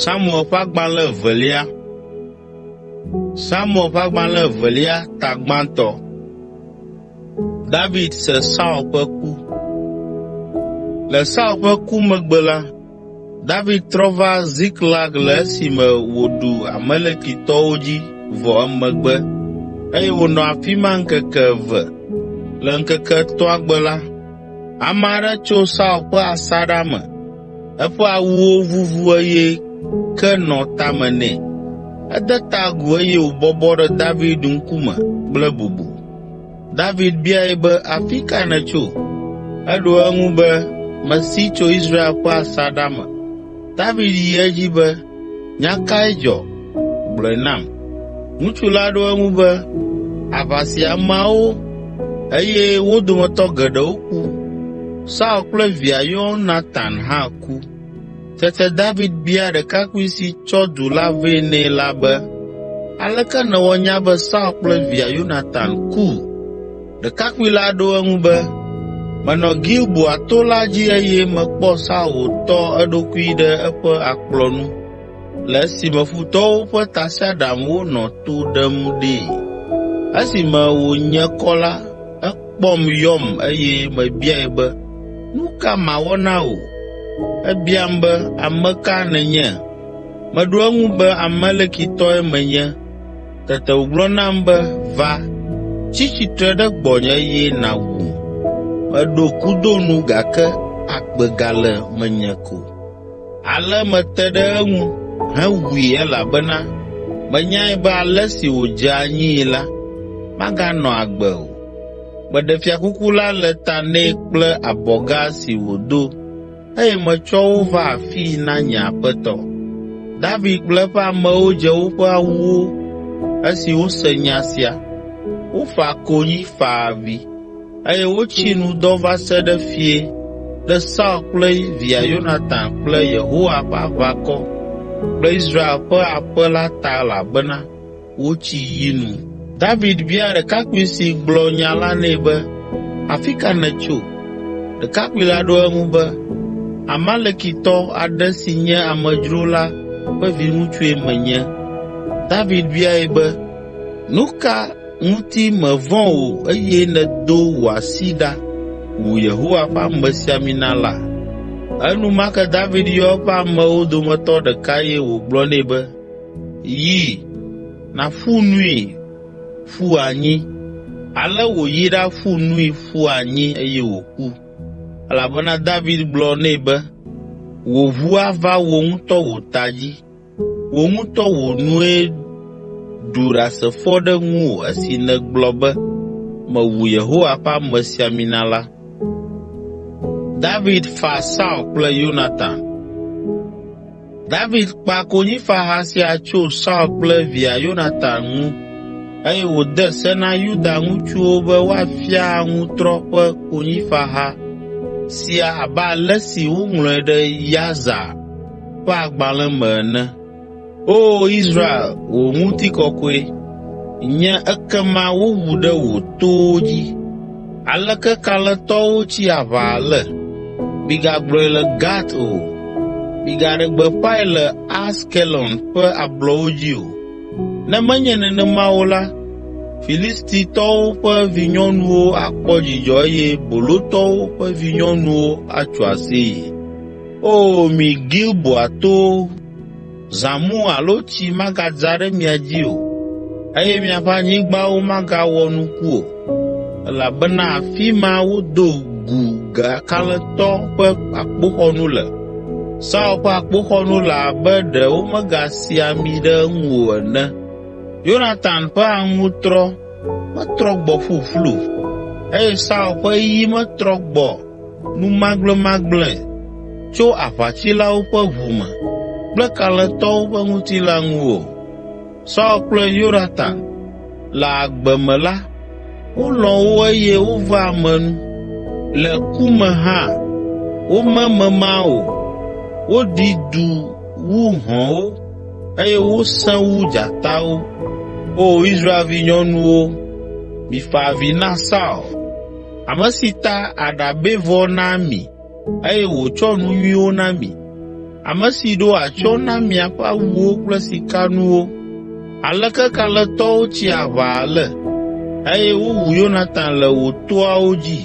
Samuel ƒe agbalẽ evelia Samuel ƒe agbalẽ evelia ta gbãtɔ David se Saul ƒe ku Le Saul ƒe ku megbe la, David trɔ va Ziklag le esime wòɖu Amalekitɔwo dzi vɔ emegbe eye wònɔ afi ma ŋkeke eve. Le ŋkeke etɔ̃a gbe la, ame aɖe tso Saul ƒe asaɖa me. Eƒe awuwo vuvu eye ke nɔ tame nɛ. Ede ta agu eye wòbɔbɔ ɖe David ŋkume kple bubu. David biae be, “Afi ka nètso?” Eɖo eŋu be, “Mesi tso Israel ƒe asaɖa me.” David yi edzi be, “Nya kae dzɔ? Gblɔe nam.” Ŋutsu la ɖo eŋu be, “Aʋa si ameawo eye wo dometɔ geɖewo ku. Saul kple via Yonatan hã ku.” Tete David bia ɖekakpui si tsɔ du la vɛ nɛ la be, “Aleke nèwɔ nya be Saul kple via Yonatan ku?” Ɖekakpui la ɖo eŋu be, “Menɔ Gilboa to la dzi eye mekpɔ Saul wòtɔ eɖokui ɖe eƒe akplɔ nu. le esime futɔwo ƒe tasiaɖamwo nɔ to ɖem ɖee. Esime wònye kɔ la, ekpɔm yɔm eye mebiae be, “Nu ka mawɔ na wò?” Ebiam be, “Ame ka nènye?” Meɖo eŋu be, “Amalekitɔe menye.” Tete wògblɔ nam be, “Va, tsi tsitre ɖe gbɔnye eye nàwum.” Meɖo kudo nu gake agbe gale menye ko. Ale mete ɖe eŋu hewui elabena menyae be ale si wòdze anyii la, maganɔ agbe o. Meɖe fiakuku la le ta nɛ kple abɔga si wòdo eye metsɔ wo va afii na nye aƒetɔ.” David kple eƒe amewo dze woƒe awuwo esi wose nya sia. Wofa konyi fa avi. eye wotsi nu dɔ va se ɖe fiẽ ɖe Saul kple via Yonatan kple Yehowa ƒe aʋakɔ kple Israel ƒe aƒe la ta elabena wotsi yi nu. David bia ɖekakpui si gblɔ nya la nɛ be, “Afi ka nètso?” Ɖekakpui la ɖo eŋu be, “Amalekitɔ aɖe si nye amedzro la ƒe viŋutsue menye.” David biae be, “Nu ka ŋuti mèvɔ̃ o eye nèdo wò asi ɖa wu Yehowa ƒe amesiamina la? Enumake David yɔ eƒe amewo dometɔ ɖeka eye wògblɔ nɛ be, “Yi, nàƒu nui ƒu anyi.” Ale wòyi ɖaƒu nui ƒu anyi eye wòku, elabena David gblɔ nɛ be, “Wò ʋu ava wò ŋutɔ wò ta dzi.” Wò ŋutɔ wò nue ɖu ɖasefo ɖe ŋuwò esi nègblɔ be, ‘Mewu Yehowa ƒe amesiamina la.’ ” David fa Saul kple Yonatan David kpa konyifaha sia tso Saul kple via Yonatan ŋu eye wòde se na Yuda ŋutsuwo be woafia aŋutrɔ ƒe konyifaha sia abe ale si woŋlɔe ɖe Yasar, ƒe agbalẽ me ene. Oo Israel, wò ŋutikɔkɔe nye ekema woʋu ɖe wò towo dzi. Aleke kalẽtɔwo tsi aʋa ale! Migagblɔe le Gat o, migaɖe gbeƒãe le Askelon ƒe ablɔwo dzi o. Ne menye nenema o la, Filistitɔwo ƒe vinyɔnuwo akpɔ dzidzɔ eye bolotɔwo ƒe vinyɔnuwo atso aseye. O mi Gilboa towo, zãmu alo tsi magadza ɖe mia dzi o, eye miaƒe anyigbawo magawɔ nuku o, elabena afi ma wodo gu kalẽtɔ ƒe akpoxɔnu le. Saul ƒe akpoxɔnu le abe ɖe womegasi ami ɖe eŋu o ene. Yonatan ƒe aŋutrɔ metrɔ gbɔ ƒuƒlu, eye Saul ƒe yi metrɔ gbɔ numagblẽmagblẽe tso aʋatsilawo ƒe ʋu me kple kalẽtɔwo ƒe ŋutilã ŋu o. Saul kple Yonatan le agbe me la, wolɔ̃ wo eye wovea ame nu. Le ku me hã, wome mema o. Woɖi du wu hɔ̃wo eye wosẽ wu dzatawo. Oo Israel vinyɔnuwo, mifa avi na Saul!” ame si ta aɖabɛvɔ na mi eye wòtsɔ nu nyuiwo na mi, ame si ɖo atsyɔ̃ na miaƒe awuwo kple sikanuwo. Aleke kalẽtɔwo tsi aʋa ale! Eye wowu Yonatan le wò toawo dzi.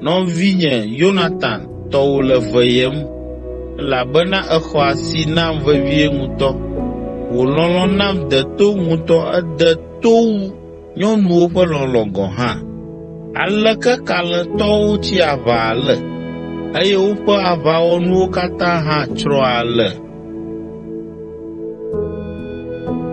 Nɔvinye Yonatan, tɔwò le veyem, elabena èxɔ asi nam vevie ŋutɔ. Wò lɔlɔ̃ nam de to ŋutɔ, ede to wu nyɔnuwo ƒe lɔlɔ̃ gɔ̃ hã. Aleke kalẽtɔwo tsi aʋa ale, eye woƒe aʋawɔnuwo katã hã tsrɔ̃ ale!